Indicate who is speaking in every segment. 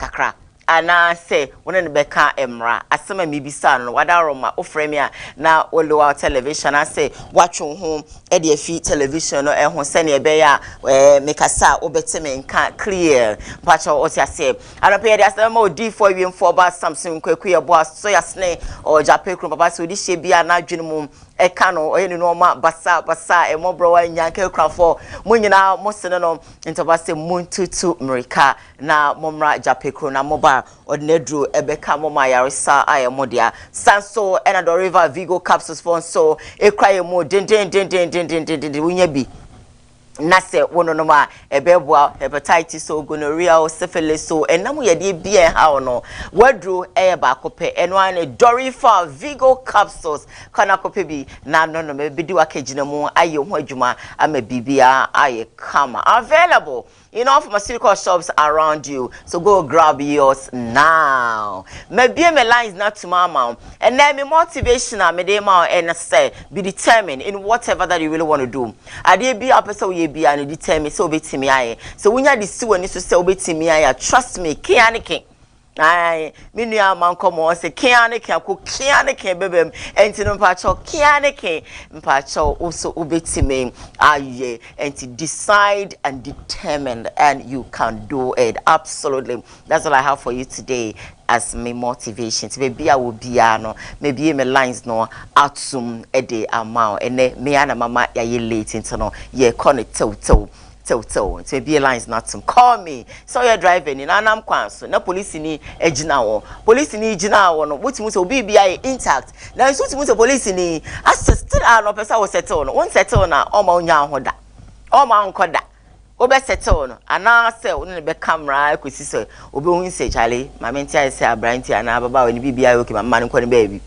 Speaker 1: kakra. Anaa sɛ wo ne no bɛka mmara. Asɛm a mibisaa no no, wadaworo ma wofrɛ me a na wolow out television anaasɛ woatwe wo ho de afi television no ho sɛnea ɛbɛyɛ a mekasa a wobɛte me nka clear. Mpakyɛw, wote aseɛ? Anɔpa yi yɛde asɛm bɛma Odiyifoɔ Awiemfoɔ Ba Samson Kwaku Yeboah Soyasene, ɔwɔ Gyapɛ kurom. Papa, sɛ odi hyɛ bi a n'adwene mu ka no, ɔyɛ ne nnoɔma basabasa, ɛmmɔborɔwa, anyanka, akunafoɔ, mo nyinaa mosene no, nti papa sɛ montutu mmirika. Na mommra Jape kuro na moba a, ɔde n'aduro bɛka mo ma ayaresa ayɛ mo dea. Saa nso na Doriva Vigo capsules foɔ nso kura yɛn mu dendendendendendendenden. Wonya bi na sɛ wononom a, ɛbɛboa hepatitis o, gonorrhea o, syphilis o, ɛnam wo yadeɛ bi a ɛha wo no, w'aduro yɛ baako pɛ. Ɛno ara ne Doriva Vigo capsules. Kɔ na kɔpɛ bi na nonom. Ɛbɛdi w'akagyinamu ayɛ ho adwuma ama biribiara ayɛ kama. Available You know pharmaceutical shops around you so go grab yours now. Mabie me lines na tuma ama wo. Ɛnɛ me motivation a mede ma wo ɛne sɛ be determined in whatever that you really want to do. Adeɛ bi a wopɛ sɛ woyɛ bi a no determine sɛ wobɛtumi ayɛ. Sɛ wonya de si w'ani so sɛ wobɛtumi ayɛ a trust me, ke ara ne ke. Ae, me nua ama nkɔmɔ ɔsɛ kea ne kea ko kea ne kea bɛbɛm ɛnti no mpakyɛw kea ne ke mpakyɛw wo so wobɛtumi ayɛ ɛnti decide and determined and you can do it absolutely that's all I have for you today as me motivation ti baabi a wɔ biara no mebie me lines no atom de ama wo ɛnɛ mea na mama yɛayɛ late nti no yɛkɔ no tewtew Tsew tsew, ntsi ebue lines no ato mu. Call me, sɛ ɔyɛ driver ni na nam kwan so na polisini agyina hɔ. Polisini gyinaa hɔ no, wotumi hu sɛ obi biara yɛ intact. Nanso wotumi hu sɛ polisini asɛ still a na ɔpɛ sɛ wo settle no. Wo nsettle no a, ɔmma ɔnnya wo ho da. Ɔmma ɔnkɔ da. Wobɛ settle no anaasɛ wo ne no bɛka mmara akosi sɛ obehu sɛ kyale, maame nte ayɛ sɛ aberanteɛ anaa ababaawa ni, biribiara yɛ okay ma mema no nkɔ ne baabi.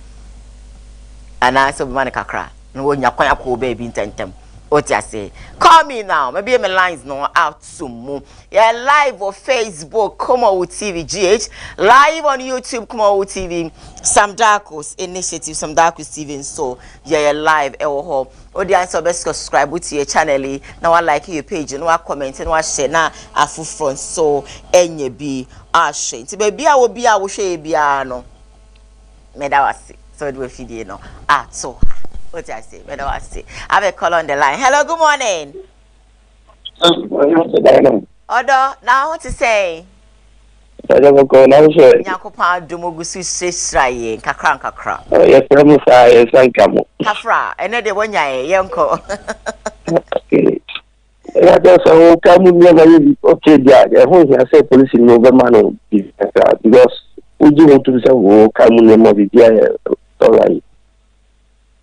Speaker 1: Anaasɛ wobɛma no kakra. Na wonnya kwan akɔ baabi ntɛmntɛm. Wote ase? Call me now. Mabue me lines no ato mu. Yɛ live wɔ Facebook, Kumawu TV GH. Live on YouTube, Kumawu TV. Sam Darko's Initiative, Sam Darko's TV nso. Yɛyɛ live ɛwɔ hɔ. Wode ansa wobɛ subscribe to yɛ channel yi, na wa like yɛ page, na wa comment, na wa share, na afoforɔ nso ɛnyɛ bi ahwɛ. Nti baabi a wɔ bi a wohwɛ yɛ biara no, Meda wo ase sɛ wode w'afidie no ato ha. Wote ase? Meda wo ase. I have a call on the line. Hello, good morning. Ɔdɔ, na wo ho te sɛn? Ɔdɔ kɔkɔɔ na wo sɛ. Nyankopɔn adom ogu so hyirahyira yɛn kakra nkakra. Yɛfrɛ mo
Speaker 2: saa yɛnsa nka mo. Kafra,
Speaker 1: ɛnɛ deɛ wɔnyaeɛ yɛnkɔ.
Speaker 2: ɛyɛ dɛ sɛ wo ka mu nneɛma yɛ bi okay bi a ɛho hia sɛ polisi no bɛma no bi kakra because wogye ho tom sɛ wo ka mu nneɛma biribi ayɛ alright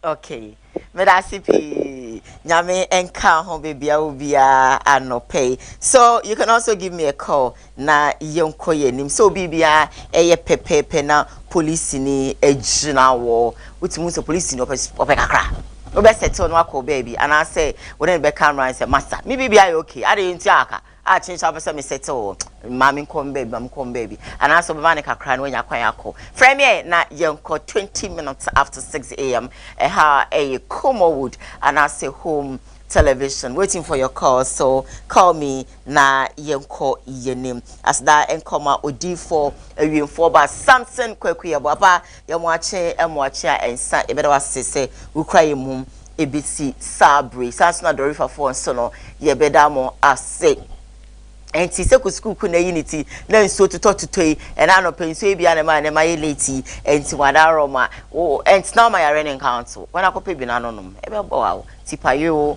Speaker 1: okay meda ase pii nyame nka ho baabi a wo biara anɔpɛ yi so you can also give me a call na yɛnkɔ yɛn anim sɛ wo biribiara yɛ pɛpɛɛpɛ na polisini agyina wɔ wotumi hu sɛ polisini ɔpɛ ɔpɛ kakra wobɛ sɛtew no akɔ baabi anaasɛ wɔne no bɛka mmara sɛ masa me biribi ayɛ okay adeɛ nti aka a kyenkyen apɛ sɛ me sɛtew wɔ maa me nkɔm baabi maa me nkɔm baabi anaasɛ ɔbɛma no kakra na wanya kwan akɔ frɛ me ɛ na yɛnkɔ 20 minutes after 6 am ɛha ɛyɛ Comowood anaasɛ home television waiting for your call so call me na yɛnkɔ yɛnim aseda nkɔma odiifoɔ awiemfoɔ ba samson kwaku yɛbɔ apa yɛmoakye ɛmoakye a ɛnsa yɛbɛda wase sɛ wokura yɛ mum ɛbɛsi saa bere saa nso na dɔrefafoɔ nso no yɛbɛda mo ase ɛnti sɛ kusukuku na ayi ne ti na nsuo totɔ totɔ yi ɛna anɔpɛ nsuo yi bia ne ma ne ma yɛ late yi ɛnti wada aroma ɛnti na ɔma yare ne nkanto wɔn akɔpɛ bi na anonom ɛbɛbɔ awo tipa yoo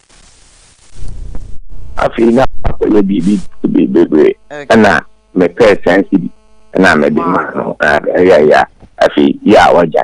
Speaker 2: Afei na akɔyɛ biribi bebree ɛna mepɛɛ ten cedi ɛna mede maa no ɛyɛ ya afei yɛ a wagya.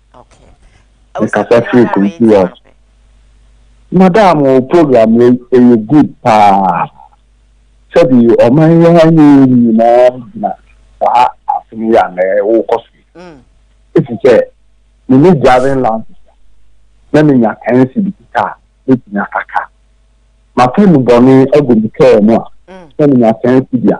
Speaker 2: Mekasa firi Kumsi West. Madam wo program wei ɛyɛ good paa. Sɛbi ɔman yi ha ni nyinaa gyina saa asem yi a na ɛwokɔ so yi. Ɛfiri sɛ mene driving license a na menya 10 cedi kika a mɛtumi akaka. Mafa nubɔne agu me kaa mu a na menya 10 cedi a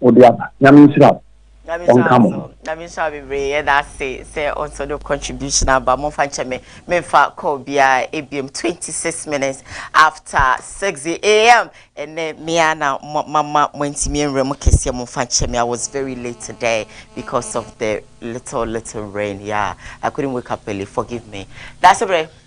Speaker 2: wo de aba. Nyame nhyira wo.
Speaker 1: Nyame nhyira wo nso. Nyame nhyira wo bebree. Yɛda ase sɛ wo nso wode wo contribution aba. Momfa nkyɛ me, memfa call biara ebiom. 26 minutes after 6 am. Ɛnnɛ me ara na mama moantumi anwura mu kɛseɛ. Momfa nkyɛ me, I was very late today because of the little little rain. Yeah, I couldn't wake up early. Forgive me.
Speaker 3: Daasebrɛ.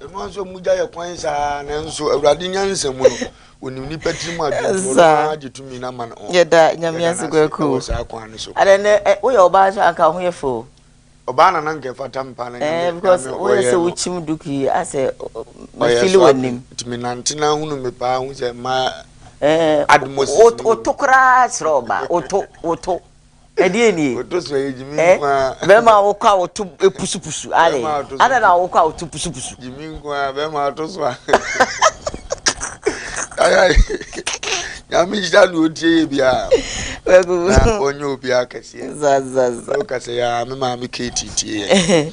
Speaker 3: Ɛno ara nso mogya yɛ kwan saa nanso Awurade nyansa mu no onim nnipa tirim adwene ɔno ara gye tumi na ma no. Yɛda Nyame ase kwaku.
Speaker 1: Wɔ saa kwan no so. Adɛ
Speaker 3: nɛ woyɛ ɔbaa
Speaker 1: nso anka ho yɛ fɛ o. Ɔbaa na nanka
Speaker 3: ɛfata me paa na Nyame ɔyɛ no. Because woyɛ sɛ
Speaker 1: wokyim duku yi asɛ mefili w'anim. Tumi nante na
Speaker 3: hunu me paa hu sɛ ma admosis. Woto
Speaker 1: koraa kyerɛ ɔbaa woto woto. Ɛdeɛn nie? Ɛ,
Speaker 3: bɛrima a wokɔ a woto
Speaker 1: pusupusu, aane, adɛn na wokɔ a woto pusupusu? Gyimi nko ara, bɛrima
Speaker 3: a ɔto so a. Yaya, Nyame nhyira deɛ ɔtie yɛ biara, na ɔnyɛ obiara kɛseɛ. Za, za, za.
Speaker 1: Wokasɛ, yaa,
Speaker 3: me maame Katie tie yɛn.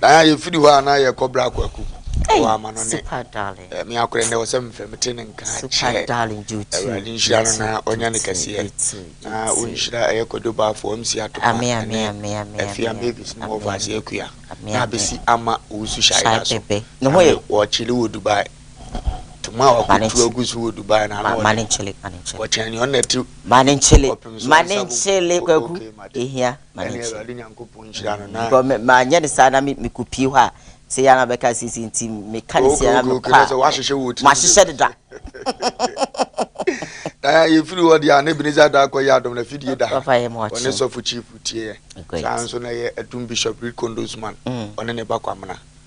Speaker 3: Diana yɛfiri hɔ a na yɛkɔ berɛ akɔ akuku wɔ amanɔne me
Speaker 1: akorɛ nnɛ wɔ sɛ
Speaker 3: mfrɛ mete ne nka kyɛ awurade
Speaker 1: nhyira no na
Speaker 3: ɔnya ne kɛseɛ na wonhyira ɛyɛ kwadwobaafo amsi atoma ne
Speaker 1: afia mavis
Speaker 3: no wɔfa ase akua na abɛsi ama owusu hyɛayera so
Speaker 1: wɔkyele wɔ dubai
Speaker 3: toma a wakɔtu agu so wɔ dubai na ano ɔde wɔkyɛn
Speaker 1: ne ɔnna
Speaker 3: ti kɔpem so nsa
Speaker 1: mu ɛhia ma ne
Speaker 3: nkyɛn. Because manyɛ no saa
Speaker 1: na mekɔ pie hɔ a, sɛ yɛ na bɛka sisi nti meka ne sɛ na mekɔ a, mahyehyɛ
Speaker 3: deda. Na yɛfiri hɔ deɛ a na Ebenezer da akɔyɛ adom na fidie da ɔne sɔfo
Speaker 1: chief
Speaker 3: tieɛ saa nso na ɛyɛ atum bishop Reed Kondosman ɔne ne ba Kwamena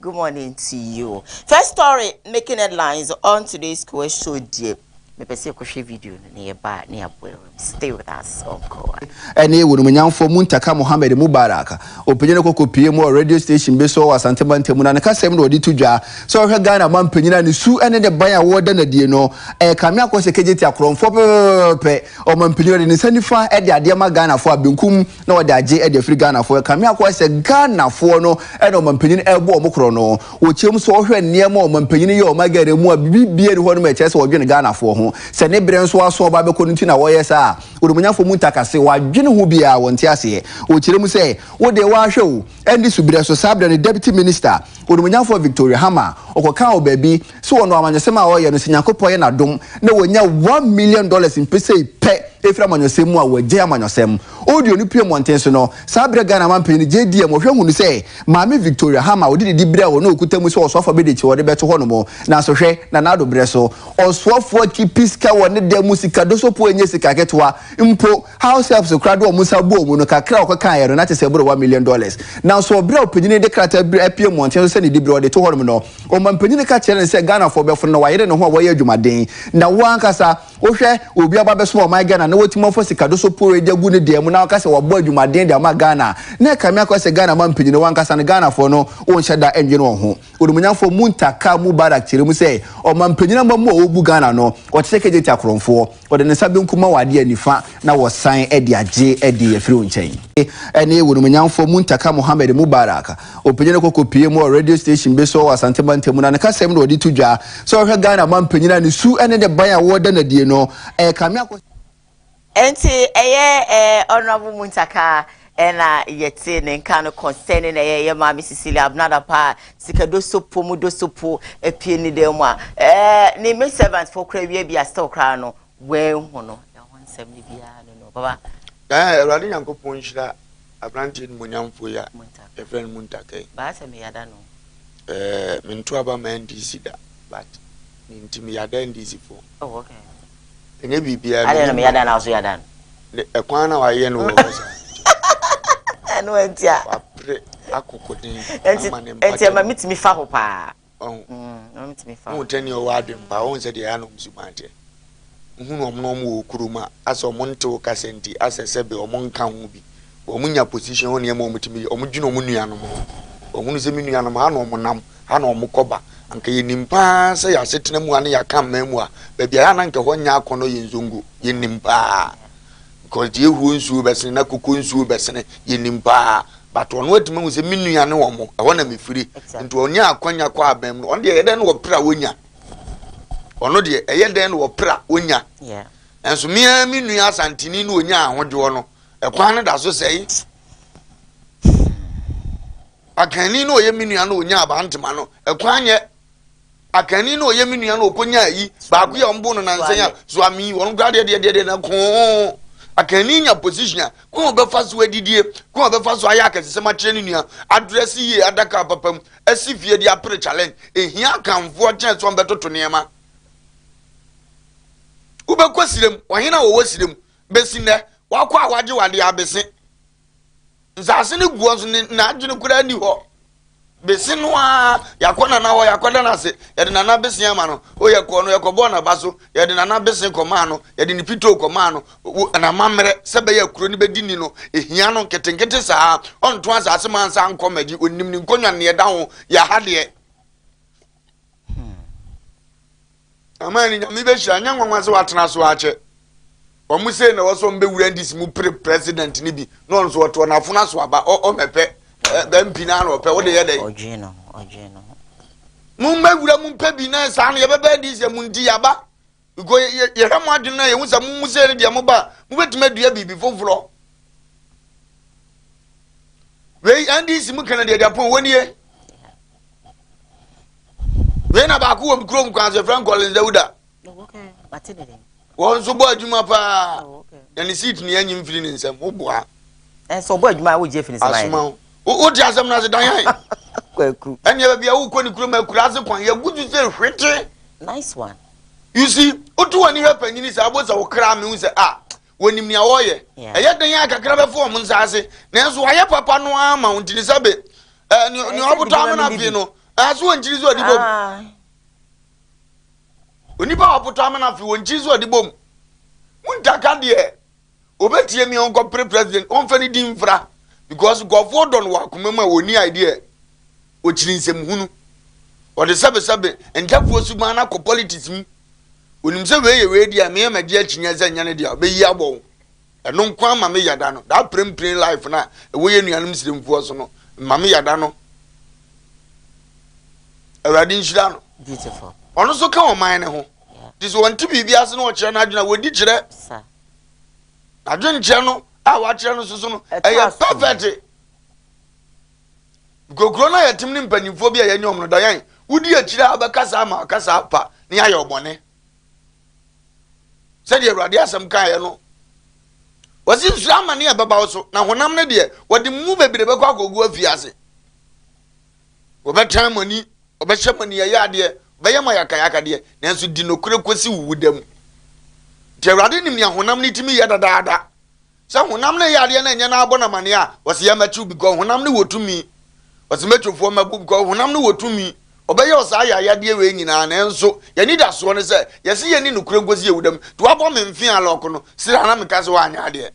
Speaker 1: Good morning to you. First story making headlines on today's Kowa show deɛ mepɛ sɛ yɛkɔhwɛ video no na yɛba a na yɛabɔ awura mu. Stay with us on Kowa. ɛne Wɔnumunyamfoɔ
Speaker 4: Muntaka Mohammed Mubarak. Ɔpanyin no kɔkɔpuee mu wɔ radio station bi so wɔ Asante Mantam mu na ne kasam na ɔde to dwa sɛ ɔhwɛ Ghana mampanyin a ne su ne ne ban a wɔda no adie no ɛrekame akɔ sɛ kegyeti akorɔmfoɔ pɛpɛpɛpɛ ɔmampanyin a ɔde ne nsa nifa de adeɛ ma Ghanafoɔ a benkum na wɔde agye de afiri Ghanafoɔ ɛka. Me akɔyɛ sɛ Ghanafoɔ no na ɔmanpanyin ɛbɔ wɔn korɔ no. Wɔkyɛm so ɔhwɛ nneɛma ɔmanpanyin yɛ ɔma Ghana mu a biribiara ni hɔ nom a ɛkyerɛ sɛ ɔdwene Ghanafoɔ ho. Sɛ ne berɛ nso aso ɔba bɛkɔ no nti na wɔyɛ saa. Onimuonyamfoɔ mu ntakase, wɔadwene ho biara wɔnte aseɛ. Wɔkyerɛ mu sɛ wode wahwɛ o, ɛnde suberɛ so saa berɛ no Deputy Minister, Onimuonyamfoɔ Victoria Hammer, ɔkɔkaa wɔ baabi, So ɔno amanyɔsɛm a ɔyɛ no sɛ Nyankopɔn yɛ n'adom na wanya one million dollars mpesei pɛ ɛfiri amanyɔsɛm mu a wagyae amanyɔsɛm? Audio no pue mmɔnten so no, saa berɛ Ghana manpanin no gyee diiɛ ma ɔhwɛ hunu sɛ Maame Victoria Hama a ɔde ne diberɛ a ɔno ɔkuta mu sɛ ɔsoafoɔ abɛdi akyire ɔde bɛto hɔ nom. Nanso hwɛ, na n'ado berɛ so ɔsoafoɔ keepi sika wɔ ne dan mu sika dosɔpoɔ ɛnyɛ sika ketewa mpo, house helps koraa de wɔn nsa bɔɔ mu no kakra a ɔkekaeɛ no na kyerɛ sɛ ɛboro one million dollars. Nanso berɛ a ɔpanin no de krataa bi apue mmɔnten so sɛ ne diberɛ ɔde to hɔ nom no, Ɔmanpanyin no ka kyerɛɛ no sɛ Ghanafoɔ bɛfono na wayere ne ho a wɔyɛ adwumaden na wo ankasa wohwɛ obi aba abɛsom ɔman Ghana na watumi afa sika do so pooe de agu ne dan mu na waka sɛ wabɔ adwumaden de ama Ghana a, na ɛka me akɔ sɛ Ghana manpanyin no wo ankasa no Ghanafoɔ no wonhyɛ da nnwene wɔn ho. Onimuonyamfoɔ Muntaka Mubarak kyerɛ mu sɛ ɔmanpanyin amammuo a ɔbu Ghana no ɔte sɛ kegyeti akorɔmfoɔ. Wɔde ne nsa benkum ma wo adeɛ nifa na wɔsan de agye adeɛ afiri wo nkyɛn. Ɛne wo nomonyamfoɔ Muntaka Mohammed Mubarak. Ɔpanyin no kɔkɔ pie mu wɔ radio station bi so wɔ Asante Mantam mu na ne kasam na ɔde to dwa sɛ ɔhwɛ Ghana manpanyin a ne su ne ne ban a wɔda no adie no ɛrekame akɔ Ɛnti
Speaker 1: ɛyɛ ɛɛ Honourable Muntaka Ɛna yɛtee ne nka no concerning na ɛyɛ yɛ maame Cecilia Abnada paa sika dosopo mu dosopo apie ne dan mu a ɛɛ ne me servant fo kora wie bi a still koraa no wɔahu no ɛho nsɛm no biara no no baba Ɛɛ Awurade
Speaker 3: Nyankopɔn nhyira
Speaker 1: aberanteɛ
Speaker 3: nimonyamfoɔ
Speaker 1: yi a yɛfrɛ
Speaker 3: no Muntakai.
Speaker 1: baa
Speaker 3: sɛ me yada no. Ɛɛ mentoa aba ma NDC da but ne nti me yada NDC foɔ. Oh okay.
Speaker 1: Ɛnyɛ biribiara.
Speaker 3: Adɛn na meyɛ adan na wo nso yɛ
Speaker 1: adan? Ɛkwan na
Speaker 3: wayɛ no wɔ hɔ saa.
Speaker 1: Ɛno nti a. Wapere
Speaker 3: akokoden ama ne mpa. Ɛnti
Speaker 1: ɛma metumi fa ho paa. Ɔho. Ɛma
Speaker 3: metumi fa ho.
Speaker 1: Wohu tɛni ɔwɔ adwen paa.
Speaker 3: Wohu sɛ deɛ ɛyɛ nom suban teɛ. Wohunu ɔmo na ɔmo wɔ kurom a, asɛ ɔmo nte wo kasa nti, asɛ sɛbe ɔmo nka ho bi. Wɔn nya position hɔ nneɛma wɔn tumi yɛ wɔn dwene wɔn nuanom ho wɔn hunu sɛ me nuanom ha na wɔn nam ha na wɔn kɔ ba anka yɛ nim paa sɛ yɛ asetena mu ha ne yɛ aka mmaa mu a baabi a yɛ anan ka hɔ nya akɔnɔ yɛ nzongo yɛ nim paa because deɛ ehuo nsuo bɛsene na koko nsuo bɛsene yɛ nim paa but wɔn atuma hu sɛ me nua ne wɔn ɛhɔ na mefiri nti wɔn nya akɔnya kɔ abɛn mu wɔn deɛ yɛ dɛn na wɔpere a wɔnya wɔn deɛ ɛyɛ dɛn na wɔpere a wɔnya nso
Speaker 1: mmea me
Speaker 3: nua asantini ne wɔnya ahodwoɔ no Ɛkwan no da so sɛe. Akanni no ɔyɛ me nua no ɔnya abantema no ɛkwan yɛ akanni no ɔyɛ me nua no ɔkɔnya ayi baako yɛ ɔmbo no nansɛn a zoami wɔn kora deɛ deɛ deɛ na koo akanni nya position a kɔn ɔbɛfa so adidie kɔn ɔbɛfa so ayɛ akɛsesɛm akyerɛ ne nua adrɛse yie adaka papa mu asi fie de apere challenge ehia akanfoɔ kyɛn sɛ ɔmbɛtoto nneɛma wobɛkɔ sirem ɔhene a wɔwɔ sirem besi nnɛ, wakɔ a wagye wade abese. Nsaase no guɔ nso ne n'adwene koraa ni hɔ. Bese no ara yakɔ nana hɔ yakɔda no ase yɛde nana bese ama no o yɛkɔɔ no yɛkɔbɔɔ n'aba so yɛde nana bese kɔmaa no yɛde ne pitoo kɔmaa no n'amammerɛ sɛ bɛyɛ akuro no bɛdi ni no ehia no nketenkete saa ɔnto asaase ma nsa nkɔ magye onim ne nkonnwa ne ɛda ho yɛ ha deɛ Aman no nyame bɛhyira nyɛ nwanwa sɛ watena so akyɛ wɔn sei na wɔsɔ mbɛwura ndisi mu pere president no bi na ɔno nso ɔtoɔ n'afono aso aba ɔmɛpɛ bɛmpi no ano ɔpɛ wode yɛ dɛ ɔdwee no ho ɔdwee
Speaker 1: no
Speaker 3: ho mo mbɛwura mu mpɛ bi na saa no yɛbɛbɛ ndisi mu nti yaba nko yɛhwɛ mo adwene na yɛhu sɛ mo mu sei no deɛ mo ba mobɛtumi adua biribi foforɔ wei ndisi mu kɛnɛ deɛ deɛ pon wɔnie Wei na baako wɔ kurom kwan sɛ Frank Collins Dawuda.
Speaker 1: Wɔn nso bɔ
Speaker 3: adwuma paa. Na ne seat ne anyi mfiri ne nsam. Woboa. Ɛnso ɔbɔ
Speaker 1: adwuma a wogye afiri ne nsam ayɛ. Asoma wo. Wote
Speaker 3: asɛm no ase dan yɛn. Kwaku. Ɛnneɛ
Speaker 1: baabi a wokɔ
Speaker 3: ne kurom akura ase kwan yɛgu so sɛ hwete. Nice one.
Speaker 1: You see,
Speaker 3: woto w'ani hwɛ panyini sɛ abɔ sɛ wokra me hu sɛ a. Ah, Wɔnim nea wɔreyɛ. Ɛyɛ den a kakra bɛfa wɔn nsa ase, nanso wɔayɛ papa no ara ma wɔn ntini sɛ be. Eh, nea nea ɔbotɔ amena fee no, eh, so wɔn nkyiri so ɔde bom. Onipa a ɔbotɔ amena fee, wɔn nkyiri so ɔde bom. Muntaka deɛ ɔbɛtie me ɔnkɔpere president, ɔmfa ne din mfra, because nkurɔfoɔ dɔ no wɔ akoma mu a wɔnni idea. okyiri nsɛmhunu. Ɔde sɛbesɛbe Ntafoɔ suban no akɔ politics mu. Onim sɛ wei yɛ wei deɛ a, me a magye akyinnyeɛ sɛ ɛnyɛ ne deɛ a, ɔbɛyi abɔ wo. Ɛno nko ara ma me yada no. That pirempirem life no a ɛwɔ yɛn nuanom Siremfoɔ so no, ma me yada no. Awurade nhyira no. Beautiful. Ɔno nso
Speaker 1: ka ɔman
Speaker 3: no ho. Te sɛ ɔnte biribi ase na ɔkyerɛ n'adwene a, wɔdi kyerɛ. Sa. N'adwenkyerɛ no a wakyerɛ no so so no, ɛyɛ perfect. Nkokuro no a yɛtem ne mpanimfoɔ bi a yɛne wɔn no dɔ yɛn. Wodi akyire a wobɛkasa ama wakasa apa na yɛayɛ wo bɔne. Sɛdeɛ Awurade asɛm kaeɛ no, wɔsi nsuro amane a ɛbɛba wo so, na honam no deɛ wɔde mu bebree bɛkɔ akɔgu afie ase. Wɔbɛtan mo ani, wɔbɛhyɛ mo aniyɛyɛ adeɛ, wɔbɛyɛ mo ayakayaka deɛ, nanso di nokorɛ kɔsi wo wuda mu. Nti Awurade nim nea honam no tumi yɛ dadaada. Sɛ honam ne yadeɛ na ɛnyɛ n'abɔ na mane a, ɔse yɛ mɛkyew because honam ne wɔ tumi. Ɔse mɛtwo foɔ mɛbo because honam ne wɔ tumi. Ɔbɛyɛw saa ayayadeɛ wei nyinaa nanso y'anidasoɔ ne sɛ yɛse yɛnni nokorɛ nkosi yɛwuda mu nti wabɔ me mfeaa lock no sira na meka sɛ wanyɛ adeɛ.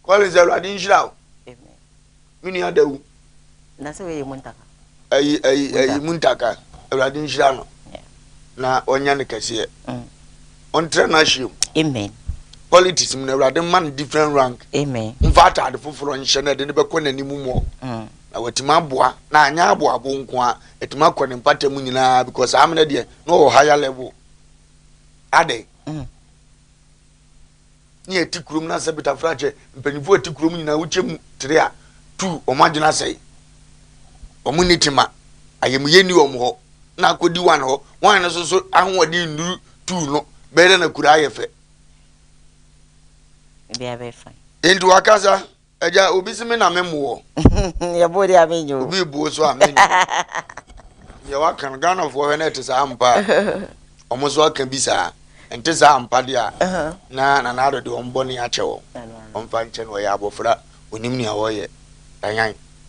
Speaker 3: Collins Awurade nhyira wo.
Speaker 1: Me nua
Speaker 3: da wu. Na sɛ wɔyɛ
Speaker 1: muntaka. Ayi ayi ayi
Speaker 3: muntaka Awurade nhyira no. Na ɔnyɛ ne kɛseɛ. Mm. Ɔntrɛ no ahyia mu. Amen.
Speaker 1: Politics mu
Speaker 3: na Awurade mma no different rank. Amen. Mfa ataade
Speaker 1: foforɔ
Speaker 3: nhyɛ na ɛde no bɛkɔ n'anim mu. Mm. Na watumi aboa na anyɛ aboabo nko a atumi akɔ ne mpata mu nyinaa because amena deɛ na ɔwɔ higher level. Adɛn? Mm. ne ɛte kurom na sɛ betafra kyɛ mpanyimfo a ɛte kurom nyinaa wokyɛ mu tere a tu wɔn adwene asɛe wɔn nni tema ayamuyɛ nni wɔn hɔ na akɔdi wan hɔ wan no so so ahoɔden nnuru tu no bɛyɛ dɛ na kura ayɛ fɛ enti wakasa Agya, obi se me na me mmoɔ. Yɛboo deɛ
Speaker 1: a menyi o. Obi buo so a menyi
Speaker 3: o. Deɛ waka no Ghanafoɔ hwɛ na ɛte saa ampa a wɔn nso aka bi saa. Ɛnte saa ampa deɛ a na Nana Addo de wɔn bɔne akyɛ wɔn. Wɔmfa nkyɛ no ɔyɛ abɔfra, ɔnim nea ɔreyɛ. Tanyan,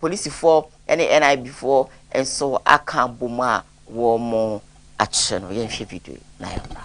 Speaker 1: Polisifoɔ ne NIB foɔ nso aka abom a wɔakyere no. Yɛnhwɛ video yi na yɛmmra.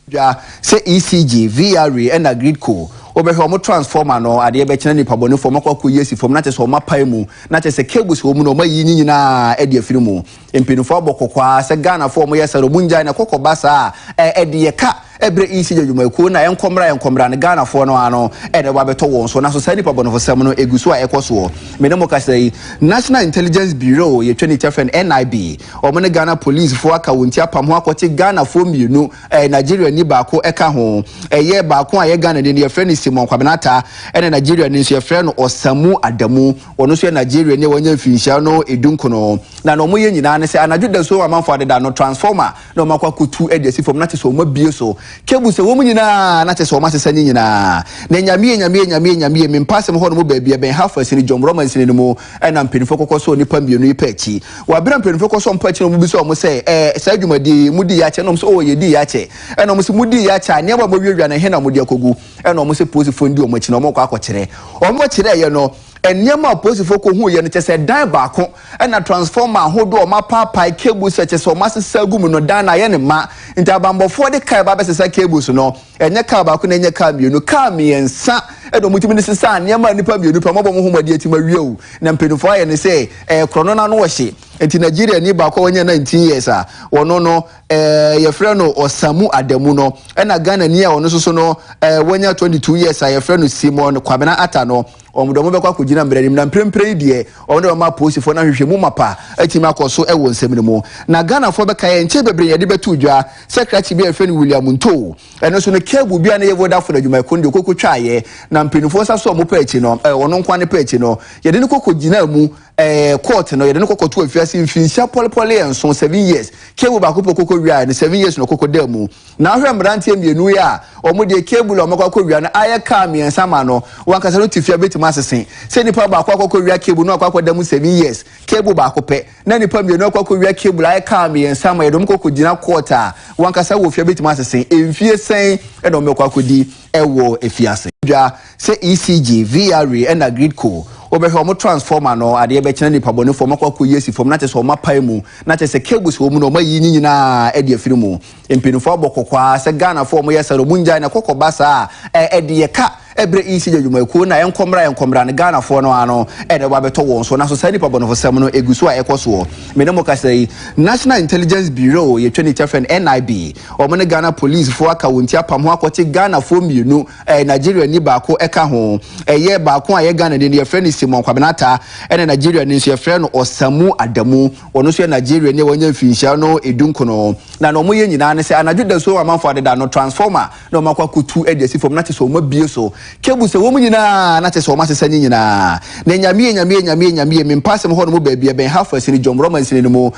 Speaker 1: dwa
Speaker 4: sɛ ECG, VRA ɛna Gridco. Wobɛhwɛ wɔn transformer no, adeɛ bɛkye na nipabɔnefoɔ wɔakɔ akɔyi asi fam na kyerɛ sɛ wɔapae mu na kyerɛ sɛ cables wɔ mu no wɔayiyi ne nyinaa de afiri mu. Mpanyinfoɔ abɔ kɔkɔ ara sɛ Ghanafoɔ a wɔyɛ saa no wɔn ngyae na ɛkɔ kɔ ba saa a ɛde yɛ ka ɛbrɛ ECD adwumayɛkuo no a ɛnkɔ mmra ɛnkɔ mmra no Ghanafoɔ no ara no na ɛba bɛtɔ wɔn so nanso saa nipa bɔnefosɛm no ɛgu so a ɛkɔ soɔ me ne mo kasa yi National Intelligence Bureau yɛtwa ne ti afrɛ no NIB wɔn ne Ghana Policefoɔ aka wɔn ti apam ho akɔte Ghanafoɔ mmienu ɛɛ Nigeriani baako ɛka ho ɛyɛ baako a ɛyɛ Ghanani no yɛfrɛ no Simon Kwabena Attah ɛna Nigeriani nso yɛfrɛ no Osamu Adamu Ɔno nso yɛ Nigeriani a wanya mfirinhyia no du nkono, na nea wɔyɛ nyinaa ne sɛ anadwo dasuo a amanfoɔ adeda no, transformer na wɔakɔ akɔtu de asi fam, na kyerɛ sɛ wɔabue so cables sɛ wɔn nyinaa, na kyerɛ sɛ wɔasesa ne nyinaa. Na Nyame ye, Nyame ye, Nyame ye, Nyame ye, Mempasem hɔ nom baabi a ɛbɛn Half Asini, Jomroma Nsini no mu na mpaninfoɔ kɔkɔ sɔɔ nnipa mmienu yi pa akyi. Wɔ abere a mpaninfoɔ kɔ sɔɔ wɔn pa akyi no, wɔn bisa wɔn sɛ, Ɛɛ, saa dwumadie yi, modiiɛ akyɛ? Ɛna wɔn se, Oo, yɛdiiɛ akyɛ. Ɛna wɔn se, Modiiɛ akyɛ a, nneɛma a moawiawia no, ɛhe na mode akɔgu? ɛna wɔn sɛ polisifoɔ no di wɔn akyi na wɔrekɔ akɔkyerɛ wɔn kyerɛeɛ no nneɛma a polisifoɔ kɔhuuiɛ no kyɛ sɛ dan baako ɛna transformer ahodoɔ a wɔapaapae cables a kyɛ sɛ wɔasesa agu mu no dan no ayɛ ne ma nti abanbɔfoɔ de kaa ba bɛsesa cables no ɛnyɛ kaa baako na ɛnyɛ kaa mmienu kaa mmiɛnsa ɛna wɔtumi de sesa nneɛma a nnipa mmienu pɛ mɔbɔ mo ho mɔde atumi awie o na mpanimfoɔ ayɛ ne sɛ ɛkorɔ no n'ano ɔhye nti Nigeria ni baako a wɔnyɛ 19 years a wɔno no eh, yɛfrɛ no Ɔsamu Adamu no, ɛna Ghanani a ɔno nso so no eh, wanya 22 years a yɛfrɛ no Simon Kwabena Ata no, wɔn de wɔn bɛkɔ akɔgyina mmerɛ anim na mprempren yi deɛ wɔn de wɔn ama apolisifoɔ no ahwehwɛ mu mapa atumi akɔ so wɔ nsɛm no mu. Na Ghanafoɔ bɛka yɛ nkyɛ bebree yɛde bɛto dwa sɛ krakye bi a yɛfrɛ no William Ntoo, ɛno nso no keebu bi a na yɛ Vodafone adwumayɛkuo no deɛ ɔkɔkɔtwaeɛ na mpanimfoɔ nsa so a wɔpɛ akyi no, eh, ɔno nkoa ne pɛ akyi no, yɛde no kɔkɔgyinaa mu Ɛɛ, court no, yɛde no kɔ kɔtoo afiase mfinhyia pɔlepɔleɛ nson, seven years. Cable baako pɛ ɔkɔkɔ wiaɛ no, seven years na ɔkɔkɔ daa mu. Na wohwɛ mmeranteɛ mmienu yi a, wɔn deɛ cable a wɔakɔ akɔ wia no ayɛ car mmiɛnsa ma no, wɔn ankasa no tefia bɛtumi asese. Sɛ nipa baako akɔkɔ wia cable na wakɔ akɔ da mu seven years, cable baako pɛ, na nipa mmienu akɔ akɔ wia cable ayɛ car mmiɛnsa ma yɛde wɔn kɔ kɔgyina court a, wɔn ankasa wɔn fia bɛtumi asese. Mfie sɛn na wɔbɛkɔ akɔdi? wɔ afiase. Dwa sɛ ECG, VRA ɛna grid co wobɛhwɛ ɔmo transformer no adeɛ bɛkyena nipa bɔne foɔ ɔmo akɔ akɔ yi asi fam na kyɛ sɛ ɔmo apae mu na kyɛ sɛ cables wɔ mu no ɔmo ayi nyi nyinaa ɛde afiri mu mpenifoɔ abɔ kɔkɔaa sɛ Ghana foɔ ɔmo yɛ saa no ɔmo ngyae na ɛkɔ kɔ ba saa a ɛde yɛ ka ɛbrɛ ECG adwumayɛkuo no a ɛnkɔ mmra ɛnkɔ mmra no Ghana foɔ no ano ɛna ɛbɔ abɛtɔ wɔn so naso saa nipa bɔnefo sɛm no ɛgu so a ɛkɔ soɔ mene mo kasa yi National Intelligence Bureau yɛtwa ne tia frɛ no NIB. Wɔn ne Ghana polisifo aka wɔn ti apam ho akɔte Ghanafoɔ mmienu, ɛɛ Nigeriani baako ka ho. Ɛyɛ baako a ɛyɛ Ghanani no yɛfrɛ no Simon Kwabena Attah, ɛna Nigeriani nso yɛfrɛ no Osamu Adamu. Ɔno nso yɛ Nigeriani a wanya mfinhyia no du nkono. Na na wɔyɛ nyinaa ne sɛ anadwo dasuo a amanfoɔ adeda no, transformer na wɔn akɔ akɔtu de asi fam, na kyɛ sɛ wɔn abue so cable sɛ wɔn nyinaa, na kyɛ sɛ wɔn asesa ne nyinaa. Na Nyamie, Nyamie, Nyamie, Nyamie, me mpaasem hɔ nom baabi, ɛbɛn Halfway Sini, Jomroma Nsini no mu,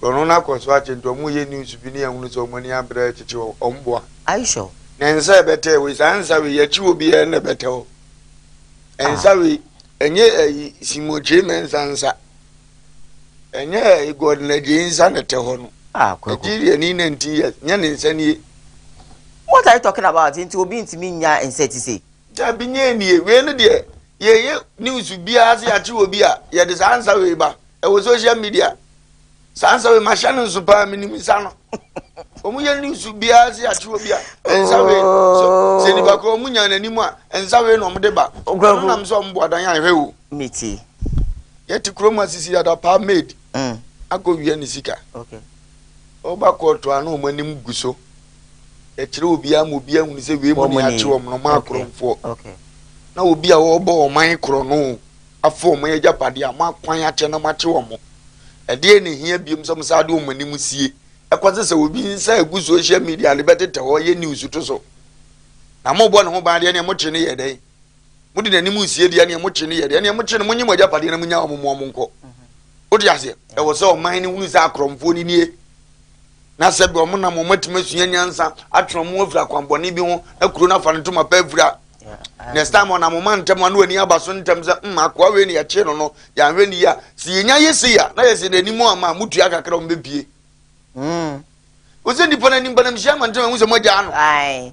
Speaker 3: Korɔno no akɔ so akye nti ɔmo yɛ news bi ne yɛhunu sɛ ɔmo ani abre rekyekye hɔ ɔmo boa. Ayi sure. Na
Speaker 1: nsa ɛbɛtɛɛ wei
Speaker 3: saa nsa wei yɛkye obi a na ɛbɛtɛ hɔ nsa wei ɛnyɛ ayi simokye mɛnsa nsa ɛnyɛ ayi Gordon Adjei nsa na ɛtɛ hɔ no Ah kwaku. Nigeria ni 19 years nyɛ ne nsa nie. What
Speaker 1: are you talking about nti obi ntumi nnya nsa ti sei. Dabi nyɛ nnie
Speaker 3: wei no deɛ yɛyɛ news biara sɛ yɛakye wɔ bi a yɛde saa nsa wei ba ɛwɔ social media saa nsa wei mahyɛ no nso paa menim nsa no wɔn yɛ news biara sɛ yɛakye wɔ bi a nsa wei sɛ nipa kɔ wɔn nya n'anim a nsa wei na wɔn de ba ɔno nam sɛ wɔn bu adan ahwɛ o
Speaker 1: yɛte
Speaker 3: kurom asisi yɛada paa maid mm. akɔ wia ne sika okay.
Speaker 1: Ɔba
Speaker 3: kɔɔ to a na wɔn anim gu so kyerɛ obiara ma obiara hunu sɛ wei mu ne yɛakye wɔn no, moakorɔmfoɔ.
Speaker 1: Na obi a
Speaker 3: ɔrebɔ ɔman korɔno afa wɔn agyapadeɛ a moakwan akyɛ na moakye wɔn. Ɛdeɛn na ɛhia biom sɛ mosan de wɔn anim sie kɔsi sɛ obi nsa agu social media de bɛtetɛ hɔ yɛ news to so? Na morebɔ ne ho ban deɛ neɛ mokye no yɛ dɛn? mode n'anim nsie deɛ neɛ mokye no yɛ deɛ neɛ mokye no monye mo agyapadeɛ na monya ɔmo mo ɔmo nkɔ wode aseɛ ɛwɔ sɛ ɔman no hunu sɛ akorɔmfoɔ no nie na sɛ bɛ ɔmo nam ɔmo atumi asua nyansa atwe ɔmo afiri akwanbɔne bi ho na kuro no afa no ntoma pɛ afiri a next time ɔnam ɔma ntɛm ano ani aba so ntɛm sɛ mm akoa wei ne yɛkye no no yɛanhwɛ ne yi a sɛ yɛnya yɛ sei a na yɛsɛ n'anim ama motua kakra ɔmo bɛpie mm. wo sɛ nnipa no anim banamhyia ma ntɛm ahu sɛ moagyaa no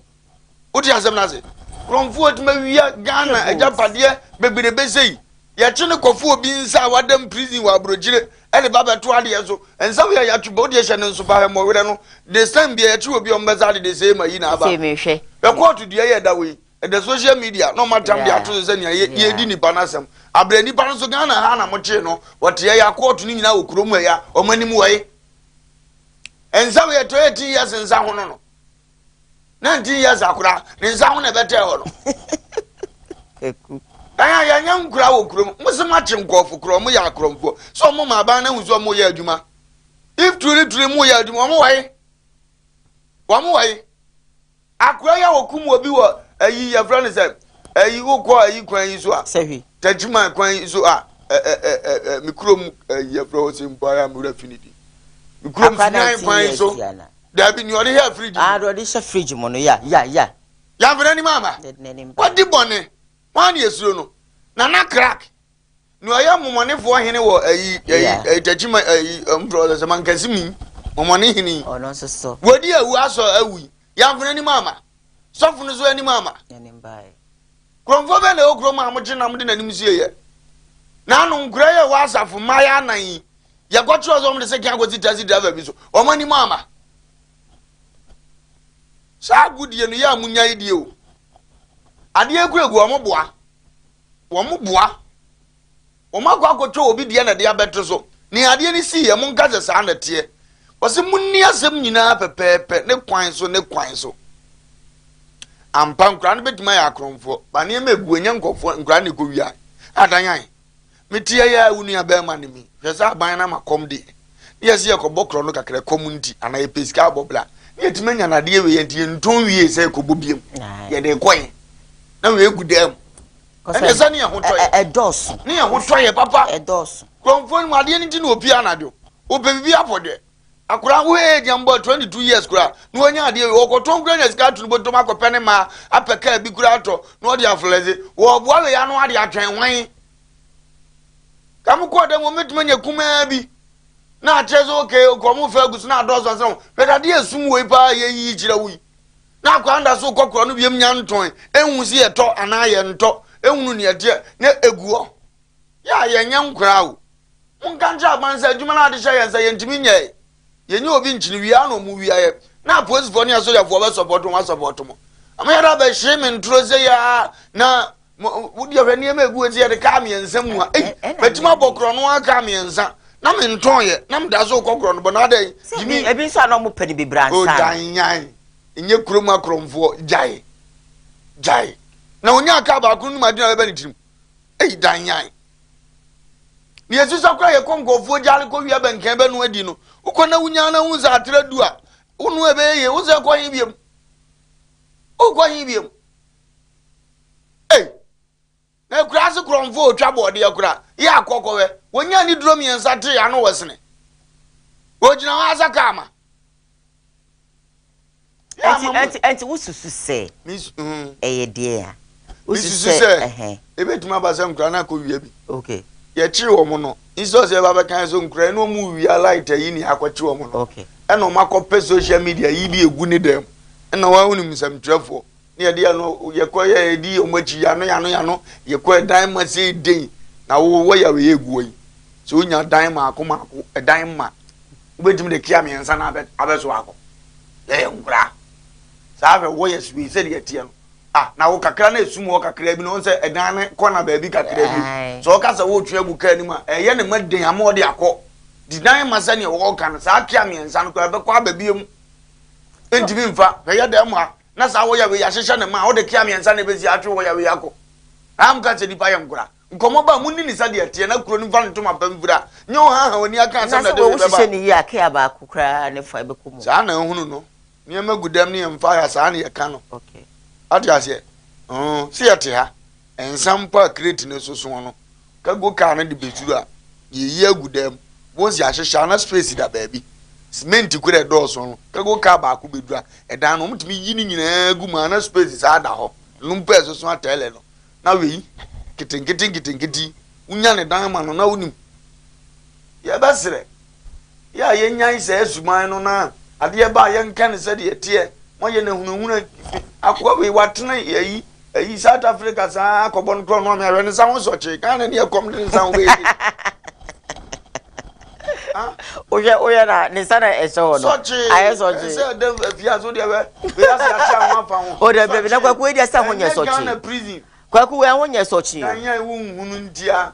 Speaker 3: wote asɛm no ase kurɔmfoɔ atuma wia ghana agyapadeɛ bebrebe sei yɛkye ne kɔfo obi nsa a wadam prison wɔ aburokyire ɛde ba bɛto adeɛ so nsa wia yɛatwe bɔ wodeɛ hyɛ ne nso ba hɛmmɔwerɛ no this time bia yɛkye obi ɔmbɛsa de de sei ma yi na aba bɛkɔɔto
Speaker 1: dua yɛ ɛda
Speaker 3: wɔ yi ɛda social media na ɔmatam de ato so sɛ nea yɛdi nipa no asɛm abrɛ nipa no nso ghana ha na mokyee no wɔteɛ yɛ akɔɔto no nyinaa wɔ kurom ɛya ɔmanim wɔye nsa wia ɛtɔ yɛ ti yɛ sensa ho no no 19 years akora ne nsa ho na ɛbɛtɛɛ hɔ no
Speaker 1: ɛyɛ
Speaker 3: yɛnyɛ nkura wɔ kurom mo sɛ moakye nkɔɔfo korɔ ɔmo yɛ akorɔmfoɔ sɛ ɔmo ma aban no ahu sɛ ɔmo yɛ adwuma if truly truly mo yɛ adwuma ɔmo wɔye ɔmo wɔye akora yɛ wɔkum wɔ bi wɔ ayi yɛfrɛ no sɛ ayi wokɔ ayi kwan yi so a takyima
Speaker 1: kwan yi so
Speaker 3: a me kurom ayi yɛfrɛ hɔ sɛ mpo ara mewura fi no di me kurom sinan kwan yi so Daabi, nea ɔde hyɛ fridge mu. Aa deɛ ɔde hyɛ fridge mu
Speaker 1: no, ya, ya, ya. Yɛamfa n'anim
Speaker 3: amba. Yɛde n'anim bɛn. Wadi bɔne, hwan na yɛsuro no? Nana Crack, nea ɔyɛ mmɔmɔnefoɔ hene wɔ ayi, ayi, Yeah. ayi, Takyima, ayi, ɛm, frɛ ɔsɛ sɛ Mankasi mi, mmɔmɔne hene yi. Ɔno nso so, Wadi
Speaker 1: awu asɔ
Speaker 3: awu yi, yɛamfa n'anim amba. Sɔfo no so anim amba. n'anim baeɛ.
Speaker 1: Kuromfoɔ bɛn
Speaker 3: na ɛwɔ kurom a mogye nam de n'anim sieeɛ? N'ano, nkuraa yi a ɛwɔ asafo mmaeɛ anan yi, yɛkɔkyerɛ sɛ wɔde sɛkɛn akɔsi taxi driver bi so wɔn anim ama saa agodie no yɛ a munya yi die o adeɛ kura gu wɔn boa wɔn boa wɔn akɔ akɔtwa obi deɛ na ɛde abɛto so ne adeɛ no si yɛ mo nka sɛ saa na teɛ wɔsi mo nni asɛm nyinaa pɛpɛɛpɛ ne kwan so ne kwan so ampa nkura no bɛtumi ayɛ akorɔmfoɔ ba nneɛma egu enye nkɔfoɔ nkura no ekɔ wia adanyan. Me ti ɛyɛ a wo nua bɛɛma ne me hwɛ sɛ aban no ama kɔm deɛ ne yɛ sɛ yɛkɔ bɔ korɔ no kakra kɔm nti ana yɛ pɛ sika abɔ bla ne yɛ timi anya nadeɛ wei yɛ nti yɛ ntɔn wie sɛ yɛkɔ bɔ biam yɛ de kɔ yɛ na wei gu dam ɛnɛ sɛ ne yɛ ho tɔ yɛ ne yɛ ho
Speaker 1: tɔ yɛ
Speaker 3: papa ɛdɔɔso kurɔmfoɔ
Speaker 1: no mu adeɛ
Speaker 3: no nti na opie anadwo opɛ bibi apɔ dɛ akwadaa nko yɛ gyɛn bɔ twenty two years kura na wɔnyɛ adeɛ wei ɔkɔtɔ nkura nya sika ato ne bɔtɔm akɔpɛ ne maa apɛ kaa bi kura atɔ na ɔde aflɛdze wɔɔboa wei ano ade atwɛn wɔn kàmú kɔ dɛm wɔn mɛtuma nya kumaa bi na akyerɛ sɛ ɔkè ɔkò ɔmo fɛ agusu na adɔɔso asɛn wɔn bɛtɛ adeɛ esum wei paa yɛ yiyi kyerɛ wo yi na akwadaa da so kɔ kura no biem nya ntɔn ehu si yɛ tɔ anaa yɛ ntɔ ehunu nea ɛteɛ na egu hɔ yɛ a yɛ nyɛ nkwadaa o. Monka nkyerɛ aban sɛ adwuma no a wɔde hyɛɛ yɛn nsa yɛntumi nyɛe. Yɛnyɛ obi nkyene wie ara na wɔn wie ayɛ. Na apolisifoɔ ne asogyafoɔ bɛ sɔpɔto wɔn asɔpɔto mo. Ama yɛde abɛ hye me ntoro sɛ yɛ a na wodi ahwɛ nneɛma egu eti yɛde kaa mmiɛnsa mu a. Ei, matumi abɔ korɔ no ara kaa mmiɛnsa. Na me ntɔn yɛ, na me da so kɔ korɔ no bɔ na adɛ yi. Jimmy. Ebi nso a na
Speaker 1: wɔn pɛ no bebree ansa. O gyae
Speaker 3: nyan, nyɛ kurom akorɔmfoɔ, gyae, gyae. Na onyaa kaa baako no mu ade na bɛbɛ ne tirim. Ei, dan nyan. na yɛsisa koraa yɛkɔ nkurɔfoɔ gyaale kɔwia bɛnkɛn bɛno adi no wokɔ na wonya no hu sɛ atrɛ du a wonu ɛbɛyɛ yie wo sɛ kɔ he biam wokɔ he biam ei na akura ase korɔmfoɔ ɔtwa bɔɔdeɛ koraa yɛ akɔkɔwɛ wɔnya ne duro mmiɛnsa tee ano wɔ sene wɔgyina hɔ asaka ama
Speaker 1: Yɛ ama mo. Enti, enti wosusu sɛ Mis, mm, ɛyɛ deɛn a? Wosusu mesusu sɛ, sɛ
Speaker 3: ɛhɛn. ebetumi aba sɛ nkuraa no akowia bi. Okay. Yɛkyere
Speaker 1: wɔn no,
Speaker 3: instead sɛ yɛba bɛka yɛn sɛ nkuraa yi na wɔrewia light ayi nea akɔkye wɔn no, Okay. ɛna wɔakɔpɛ social media ayi bi agu ne dan mu. Ɛna wɔn a wonim nsɛmtwerɛfoɔ. Ne yɛde yɛ no yɛkɔ yɛ yɛdi wɔn akyi yano yano yano yɛkɔ ɛdan ma se den na wo wɔ yare yɛ guɔ yi sɛ wonya dan maako maako ɛdan mma wobɛtumi de kia mmiɛnsa na abɛ abɛso akɔ yɛ yɛ nkora saa afɛ wɔ yɛ sue sɛ deɛ teɛ no ah na wo kakra na esum wɔ kakra bi na wɔn sɛ ɛdan ne kɔ na baabi kakra bi sɛ ɔka sɛ wotwe agu kaa anim a ɛyɛ ne ma den ama ɔde akɔ di dan ma sɛ nea wɔka no saa kia mmiɛnsa no kɔ ɛbɛkɔ abɛbie mu ntumi nfa hwɛ yɛ dɛm ha na saa hɔ yawee yahyehyɛ no maa ɔde kea miɛnsa na ebesi atwe hɔ yawee akɔ aa mka sɛ nipa yɛ nkora nkɔmɔ ba mo nni ne sɛdeɛ ɛteɛ na kuro no mfa ne ntoma pa mfira nyɛ ɔhaha wani aka asɛm na ɛde wee bɛba. Anaasɛ wɔ wo hyehyɛ no yie a kea
Speaker 1: baako koraa ne fa ɛbɛkɔ mu. Saa na nhunu no
Speaker 3: nneɛma gu dɛm ne yɛn mfa ha saa ne yɛka no wate
Speaker 1: aseɛ
Speaker 3: ooh se yɛte ha Nsa mpo a kreti no so sõ no, cargo car no de bɛduru a, yɛyi agu dan mu. Wohu sɛ yɛahyehyɛ a na space da baabi. Cement kura ɛdɔɔso no, cargo car baako bɛduru a, ɛdan no, wɔtumi yi ne nyinaa gu mu a na space saa da hɔ. Ɛno mpo a ɛsoso atɛɛlɛ no, na wei, nketenkete nketenkete yi, wonya ne dan ma no na wonim. Yɛbɛsrɛ. Yɛ a yɛnyae saa suban no na adeɛ ba a yɛnka no sɛdeɛ ɛteɛ ma yɛn ahunahuna fi akoa wei watena ayi ayi South Africa saa akɔbɔ no korɔ no ame awɛ ne nsa ho sɔkye kaa na ne ɛkɔm de ne nsa ho bɛyɛ
Speaker 1: wohwɛ woyɛ na ne nsa na ɛsɛ hɔ no ayɛ sɔkye sɛ ɛdɛ afie aso
Speaker 3: deɛ wɛ wei ase ahyɛ ho afa ho o dɛ bɛbi na kwaku wei deɛ
Speaker 1: sɛ ho nyɛ sɔkye Ghana prison kwaku wei ho nyɛ sɔkye kan yɛ wo nhunu
Speaker 3: ntia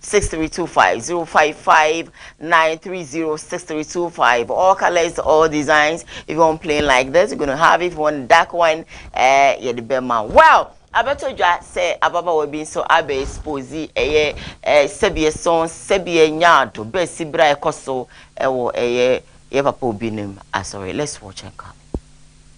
Speaker 1: Six three two five zero five five nine three zero six three two five. All colors, all designs. If you want plain like this, you're gonna have. If you want dark one, eh, yeah, the bema. Well, abɛto dwa sɛ ababaawa bi nso abɛ expose ɛyɛ eh, sɛbi ɛso sɛbi ɛnya ado bɛɛ si bere a ɛkɔ so ɛwɔ ɛyɛ yɛ papa obi nim asɔre. Let's watch and come.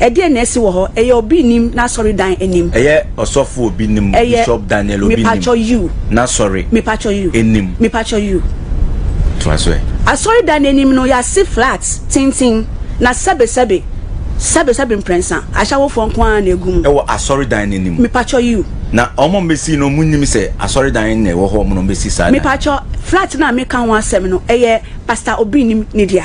Speaker 5: Ɛdeɛn na asi wɔ hɔ? Ɛyɛ obi nim n'asɔredan anim. Ɛyɛ ɔsɔfo obi nim,
Speaker 6: Ɛyɛ, Bishop Daniel obi nim mepakyɛ you.
Speaker 5: n'asɔre Mepakyɛ
Speaker 6: you. anim.
Speaker 5: Mepakyɛ you. Toa so ɛ. Asɔredan
Speaker 6: no anim
Speaker 5: no, yɛase flat, tenten,
Speaker 6: na
Speaker 5: sɛbesɛbe, sɛbesɛbe mprɛnsa, ahyawofoɔ nko ara na ɛgu mu. Ɛwɔ asɔredan no anim.
Speaker 6: Mepakyɛ you.
Speaker 5: Na wɔn a wɔbɛsii
Speaker 6: no, wɔnnim sɛ asɔredan na ɛwɔ hɔ, wɔn na wɔbɛsi saa dan no. Mepakyɛ, flat
Speaker 5: no a meka ho asɛm no, ɛyɛ Pastor obi nim ne dea.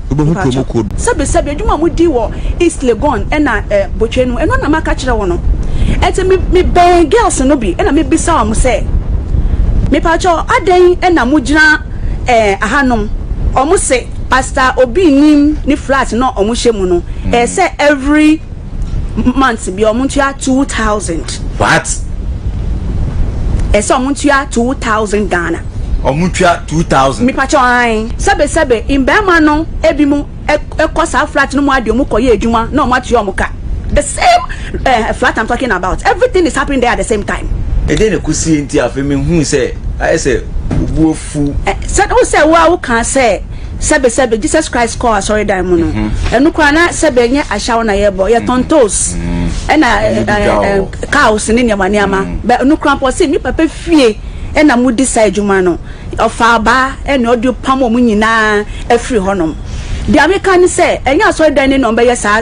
Speaker 5: Wobɛhu kuro mu kuo.
Speaker 4: Sɛbesɛbe, adwuma a modi
Speaker 5: wɔ East Legon na Botwe no, ɛno na maka akyerɛ wo no. Enti me, mebɛn girls no bi na mebisa wɔn sɛ, Mepakyɛ, adɛn na mogyina eh, ahanom? Wɔn se, Pastor Obi nnim ne flat no a wɔhyɛ mu no, ɛyɛ sɛ every. months bia ɔmo ntua two thousand. What? Ɛsɛ ɔmo ntua two thousand Ghana. Ɔmo ntua two
Speaker 6: thousand. Mipakyɛw ae.
Speaker 5: Sɛbesɛbe mmarima no ebinom kɔ saa flat no mu ara de ɔmo kɔyɛ adwuma na ɔmo atua ɔmo ka. The same eh, flat I'm talking about. Everything is happening there at the same time. Ɛdeɛn na ɛkɔ sie
Speaker 6: nti afei mehuu sɛ ayɛ sɛ wo bo afu. Ɛ, sɛ wo sɛ
Speaker 5: wo a wokaa sɛ. sɛbe sɛbe Jesus Christ kɔɔ asɔredan mu no, ɛno koraa na sɛbe ɛnyɛ ahyaw na yɛbɔ, yɛtɔn toes, ɛna cows ne nneɛma nneɛma, bɛ ɛno koraa mpo ɔse me papa fie ɛna modi saa adwuma no, ɔfaa baa ɛne ɔde pam wɔn nyinaa afiri hɔnom. Deɛ meka ne sɛ ɛnyɛ asɔredan ni na wɔbɛyɛ saa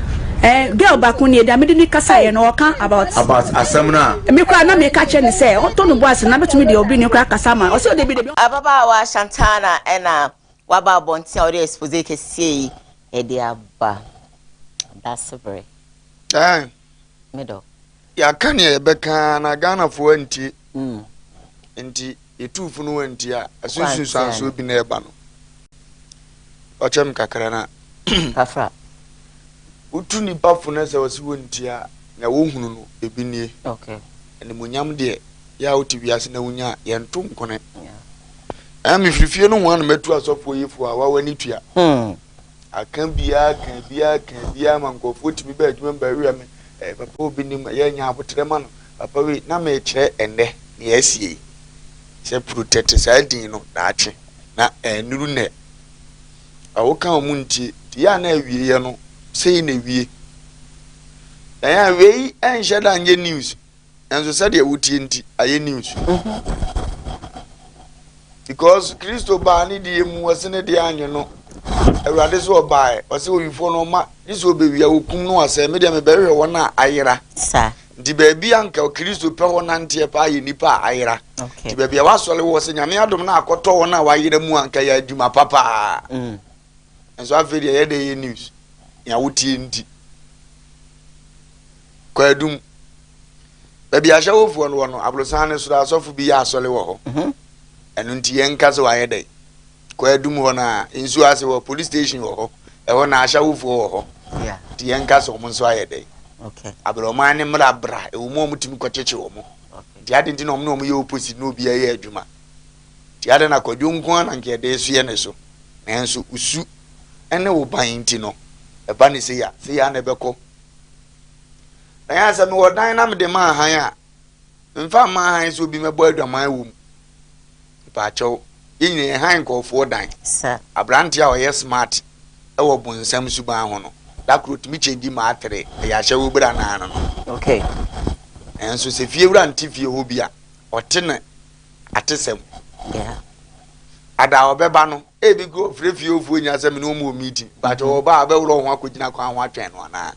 Speaker 6: Eh girl baako
Speaker 5: nie deɛ mede ne kasaeɛ no ɔka about about asɛm no
Speaker 6: a me koraa na meka kyerɛ
Speaker 5: ne sɛ ɔntɔ no boase na bɛtumi deɛ ɔbi ne koraa kasa ma ɔsɛ ɔde bi de bi Ababaawa Shantana
Speaker 1: ɛna waba abɔnten a ɔde expose kɛseɛ yi ɛde aba. Dasebere. Aye. Me dɔ. Yɛaka
Speaker 3: nea yɛbɛka ara na Ghanafoɔ antie. Enti yɛtuu fo no wantie a, ɛso nsunsuansoɔ bi na ɛba no. Ɔkyɛm kakra na Kafra. wotu nnipa fo no sɛ wɔse wɔntie a, nea wɔhunu no, ebi nie. Okay.
Speaker 1: Animuonyam
Speaker 3: deɛ, yɛ a wote wiase na wonya a, yɛnto nkone. Ɛɛ mefiri fie nohoa na matu asɔfoɔ yifoɔ a, wawa ne tua. Aka biaa aka biaa aka biaa ma nkorɔfoɔ tumi ba adwuma mu bɛwea me eh, papa a obi nim yɛ nya aboterɛ ma no papa wei na mekyerɛ ɛnnɛ nea asie yi sɛ protect saa din no daakye na ɛnnuru nnɛ a woka ɔmo ntie nti yɛ a na awieɛ no sei na ewie na yɛ a wei ɛnhyɛ da nyɛ news Nanso sɛdeɛ wotie nti ayɛ news because Kristo baa ne deɛ mu ɔse ne deɛ anyo no Awurade so ɔbaɛ ɔse owifoɔ no ɔma ne so ɔbɛwia wɔkum no ɔsɛe me deɛ mebɛhwehwɛ wɔn a ayera nti
Speaker 1: baabi anka
Speaker 3: Kristo pɛ hɔ nanteɛ paa yɛ nipa a ayera nti baabi a wasɔre wɔ sɛ nyame adom no akɔtɔ wɔn a wayera mu anka yɛ adwuma papaa mm. nso afei deɛ ɛyɛ dɛ yɛ news nea wotie nti kwaadum baabi ahyɛwofoɔ no wɔ no aborosan no soro asɔfo bi yɛ asɔre wɔ hɔ mhm. ɛno nti yɛnka sɛ wayɛ dɛ kwaadum hɔ no a nsuo ase wɔ police station wɔ hɔ ɛhɔ na ahyɛwofoɔ wɔ hɔ nti yɛnka
Speaker 1: sɛ ɔmo nso
Speaker 3: ayɛ dɛ abrɛ
Speaker 1: ɔman ne mmra
Speaker 3: bra ɛwɔ mu ɔmo tumi kɔkyekye ɔmo nti adi nti na ɔmo na ɔmo yɛ opposite na obi ɛyɛ adwuma Nti adɛn na kwadwo nko ara na anka yɛde resoɛ ne so? Nanso wo su ne wo ban nti no, ɛba no sei a, sei ara na ɛbɛkɔ. Na yɛn a sɛ mewɔ dan na mede maa hann a, memfa mmaa hann sɛ obi mmɛbɔ adwaman wɔ mu. Mpaakyɛw, yɛn nyinaa yɛ hann nkurɔfoɔ dan. Aberanteɛ
Speaker 1: a ɔyɛ
Speaker 3: smart wɔ bonsam suban ho no, da koro ɔtumi kyɛngyi maatere, ɛyɛ ahyɛwobere anaa no no.
Speaker 1: Nanso
Speaker 3: sɛ fiewura nte fie hɔ bi a, ɔte ne. atesɛm
Speaker 1: no ho. Ada
Speaker 3: a ɔbɛba no, ebi kura ɔfrɛ fie ɔfoɔ nyinaa sɛ mene ɔmu wɔ meeting, but mm-hmm. ɔba a ɔbɛworɔ ɔho akɔgyina kwan ho atwɛn no anaa?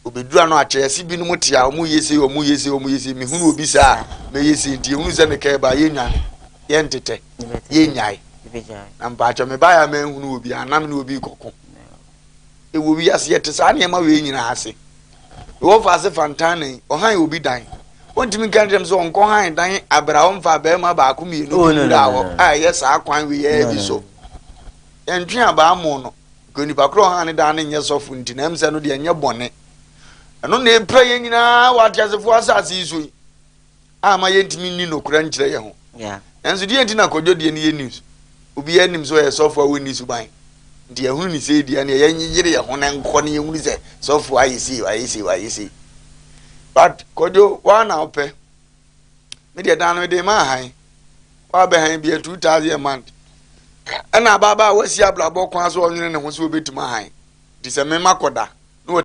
Speaker 3: Obɛdura mm-hmm. no akyerɛse binom te a ɔmu yɛ sei, ɔmu yɛ sei, ɔmu yɛ sei, mehunu obi saa mɛyɛ sei nti ɛhunu sɛ mekɛɛ ba yɛnwane, yɛntetɛ, yɛnyae. Na mpakyɛ mebaeɛ a manhunu obi, anam ne obi kɔko. Ɛwɔ wiase yɛte saa nneɛma wei nyinaa ase. Mewɔ mfaase fa ntanne yi. Ɔhan obi dan. Wontumi nka nkyerɛ me sɛ ɔnkɔhan dan bere a ɔmfaa barima baako mmienu oh, no, no, no, a ɛyɛ saa kwan weyɛɛ bi so. Yɛntwe abaa mo no. Nka onipa koro ɔhan ne dan no nyɛ sɔfo nti na ɛm sɛ no deɛ ɛnyɛ bɔne. Ɛno na ɛpira yɛn nyinaa wɔ ateasefoɔ asase yi so yi. amma yɛntumi nni nokora nkyerɛ yɛn ho. Nanso deɛ nti na kɔdwo deɛ no yɛ news? Obiara nim sɛ ɔyɛ sɔfo a wɔnni suban. Nti ɛho ni sei deɛ neɛ yɛnyere yɛn ho na nkɔ na yɛhunu sɛ sɔfo ayɛ sei ayɛ sei ayɛ sei. But kɔdwo waa na wopɛ. Me deɛ dan no mede ma ahan. Wɔabɛhan bia 2000 a month. Ɛna abaabaa a wasi abrabɔ kwan so ɔnwene ne ho sɛ obɛtumi ahan. Nti sɛ mema kɔda.